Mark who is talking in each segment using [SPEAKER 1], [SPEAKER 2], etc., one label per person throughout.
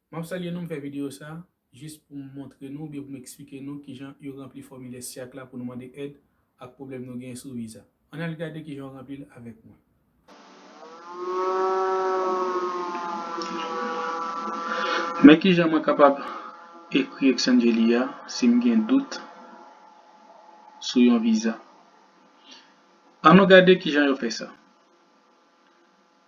[SPEAKER 1] Map salye nou, m fè videyo sa jis pou m montre nou oubyen pou m eksplike nou kijan yo ranpli fòmilè SYAC la pou nou mande èd ak pwoblèm nou genyen sou viza. Ann al gade kijan yo ranpli l avèk mwen. Men kijan mwen kapab ekri Exangeli a si m gen dout sou yon viza. An nou gade kijan yo fè sa.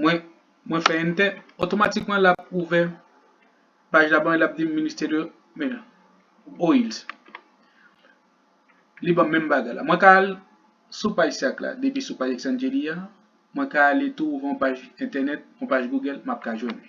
[SPEAKER 1] Mwen Mwen fè enter, otomatikman l ap ouvè paj la ban l ap di m ministère de men nan oils li ban m menm bagay la mwen ka al sou paj sak la depi sou paj Exangeli a mwen ka ale tou ouvè yon paj entènèt yon paj Google m ap ka jwenn li.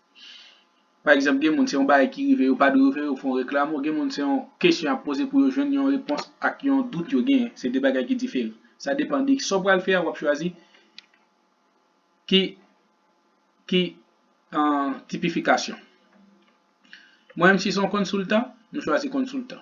[SPEAKER 1] Pa egzanp gen moun se yon bagay ki rive yo pa dwe yo veye yo fè yon reklam ou gen moun se yon kesyon y ap poze pou yo jwenn yon repons ak yon dout yo genyen se 2 bagay ki diferan sa depan de sa w pral fè a w ap chwazi ki ki tipifikasyon mwen menm si se yon konsiltan m chwazi konsiltan.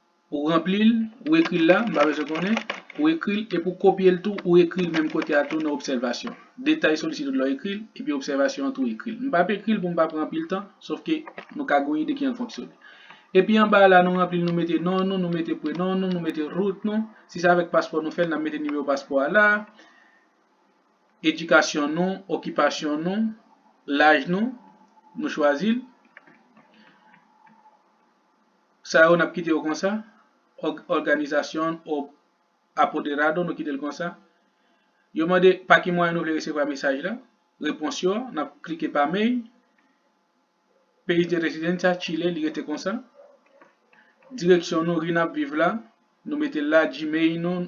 [SPEAKER 1] Ou ranpli l, ou ekri l la, m pa bezwen konnen, ou ekri l epi ou kopye l tou, ou ekri l menm kote a tou nan obsèvasyon. Detay solisitid la ou ekri l, epi obsèvasyon an tou ou ekri l. M pa p ekri l pou m pa pran anpil tan, sof ke nou ka gen yon ide kijan l fonksyone. Epi anba la nou ranpli l nou mete non nou, nou mete prenon nou, nou mete rout nou, si se avèk paspò nou fè l n ap mete nimewo paspò a la, edikasyon nou, okipasyon nou, laj nou, nou chwazi l. Sa yo nap kite yo konsa, organizacion o apoderado nou kitel konsa. Yo mande pa ki mwayen nou vle resevwa mesaj la, repons yo nap klike pa mail. Pays de residencia, Chile, li rete konsa. Direksyon nou, ri nap viv la, nou metel la, Gmail nou.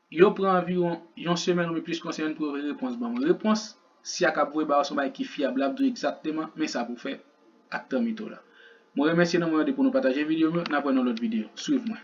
[SPEAKER 1] Yo pran anviwon yon semèn oubyen plis kon semèn pou yo voye repons ban mwen. Repons si a k ap voye ba ou se yon bagay ki fyab, l ap di ou egzakteman men sa pou w fè ak tan mit ou la. Mwen remèsye nou, mwen mande pou nou pataje videyo m yo, n ap wè nan lòt videyo. Swiv mwen.